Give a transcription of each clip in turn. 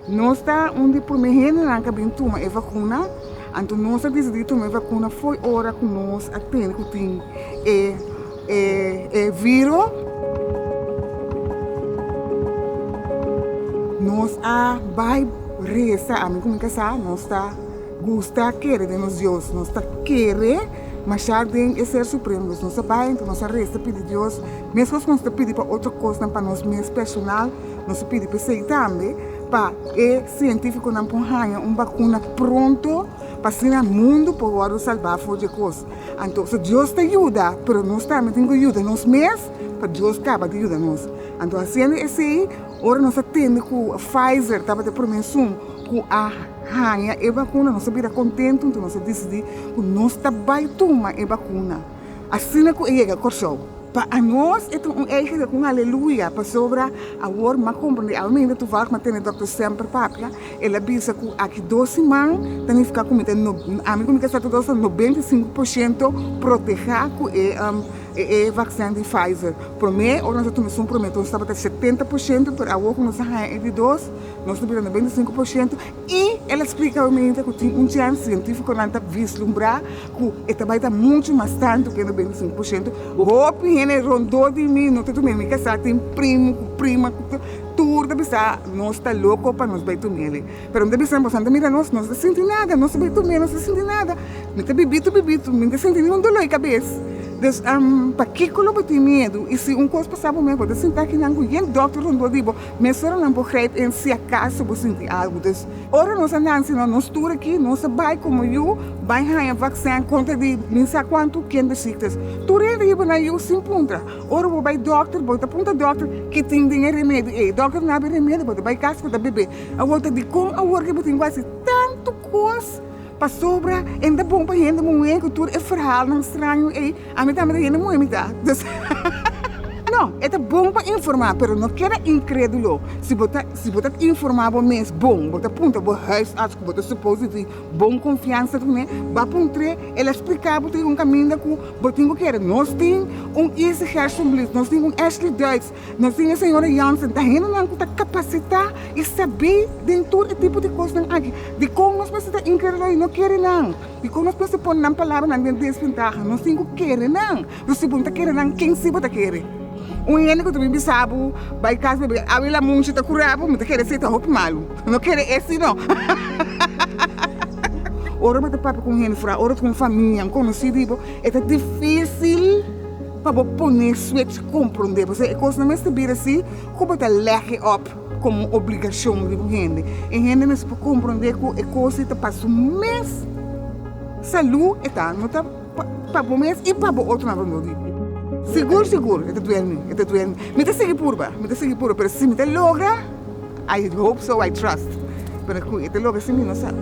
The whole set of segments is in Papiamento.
Nos ta un di promé hendenan k'a bin tuma e vakuna, anto nos a disidí tuma e vakuna fo'i ora ku nos a tende ku tin e viro. Nos a bai resa, ami ku mi kasá nos ta gusta kere den nos Dios, nos ta kere masha den e Ser Supremo, dus nos a bai anto nos a resa pidi Dios meskos ku nos ta pidi pa otro kosnan pa nos mes personal, Nos a pidi p'esei tambe pa e sientífikonan por haña un bakuna pronto, pa asina mundu por wòrdu salbá for dje kos. Anto, si Dios ta yuda, pero nos tambe tin ku yuda nos mes pa Dios kaba di yuda nos. Anto hasiendo esei, ora nos a tende ku Pfizer tabata e promé esun ku a haña e bakuna, nos a bira kontentu, anto nos a disidí ku nos ta bai tuma e bakuna. Asina ku e yega Kòrsou. Pa anos e ta un eikende ku un aleluya pasobra awor m'a komprendé al minder tuvalg m'a tene dòkter semper papia. El a bisa ku aki dos siman ta nifiká ku mi ta ami ku mi ta sa ta dos ta nobenta i sinku por shento protehá ku e e vaksen di Pfizer. Promé ora nos a tuma esun promé nos tabata setenta por shento, pero awor ku nos a haña e di dos nos ta bira nobenta i sinku por shento. I el a splika rumente ku tin un chèns sientífikonan ta vislumbrá ku e ta bai ta muchu mas tantu ku e noventa-sinku por sientu. Hopi hende rondó di mi no ta tum'é. Mi kasá, tin primu ku prima ku tur ta bisa nos ta loko pa nos bai tum'é alí. Pero mi ta bisa, boso no ta mira nos, nos no ta sinti nada, nos ta bai tum'é nos no ta sinti nada. Mi ta bibitu bibitu, mi no ta sinti ni un doló di kabes. Pues, pakiko lo bo tin miedu? I si un kos pasá bo mes, bo ta sinta kinan ku yen dòkter rondó di bo Meseronan por grijp in si acaso bo sinti algo. Dus, ora nos a nanci no nos tur aki, nos a bai como yu bai haña vaccin contra di mi sa cuanto ken di ziektes. Tur hende hiba na yu sin puntra. Ora bo bai dokter, bo ta punta dokter ke tin den e remedio ei. Dokter a naba e remedio, bo ta bai cas bo ta bebe. Awor ta di con awor ke bo tin cu haci tanto cos pasobra e nta bon pa hende muhe cu tur e verhalnan straño ei. Ami tambe ta hende muhe mi ta, no e ta bon pa informa pero no keda inkredulo si bo ta si bo ta informa bo mes bon bo ta punta bo huisarts ku bo ta supos di tin bon konfiansa ku ne ba pa un tre el a splika bo tin un kaminda ku bo tin ku kere nos tin un Isi Hersenblis nos tin un Ashley Duits nos tin e señora Jansen ta hendenan ku ta kapasitá i sabé den tur e tipo di kosnan aki dikon nos mester ta inkredulo i no kere nan Dikon nos mester pone nan palabranan den desventaha? Nos tin ku kere nan. Pero si bo no ta kere nan, ken si bo ta kere? Un hende ku ta bin bisa bo, Bai kas bo, e abi la munchi ta kura bo, mi ta kere esei ta hopi malu. No kere esi no. Ora bo ta papia ku un hende fora, ora ku un famia, un konosí di bo, e ta difísil pa bo pone switch komprondé. Pasobra e kosnan mester bira si ku bo ta lèk e òp. komo un obligashon di bo hende. E hende mester por komprondé ku e kos ei ta pa su mes salú e ta, no ta pa bo mes i pa bo otronan rondó di bo. Sigur sigur e ta duel mi, e ta duel mi. Mi ta sigui purba, mi ta sigui purba, pero si mi ta logra, I hope so, I trust, pero ku e ta logra si mi no sa.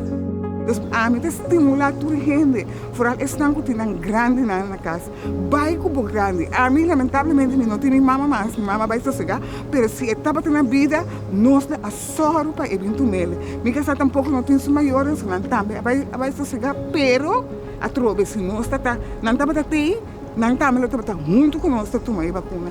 Entonces ami ta stimulá tur e hende, foral esnan ku tin nan grandinan na kas, Bai ku bo grandi. Ami lamentablemente mi no tin mi mama mas, mi mama bai sosega, pero si e tabata na bida nos lo a sòru pa e bin tumel. Mi kasá tampoko no tin su mayornan, nan tambe a bai a bai sosega, pero atrobe si nos ta ta, nan tabata tei, nan tambe lo tabata huntu ku nos ta tuma e bakuna.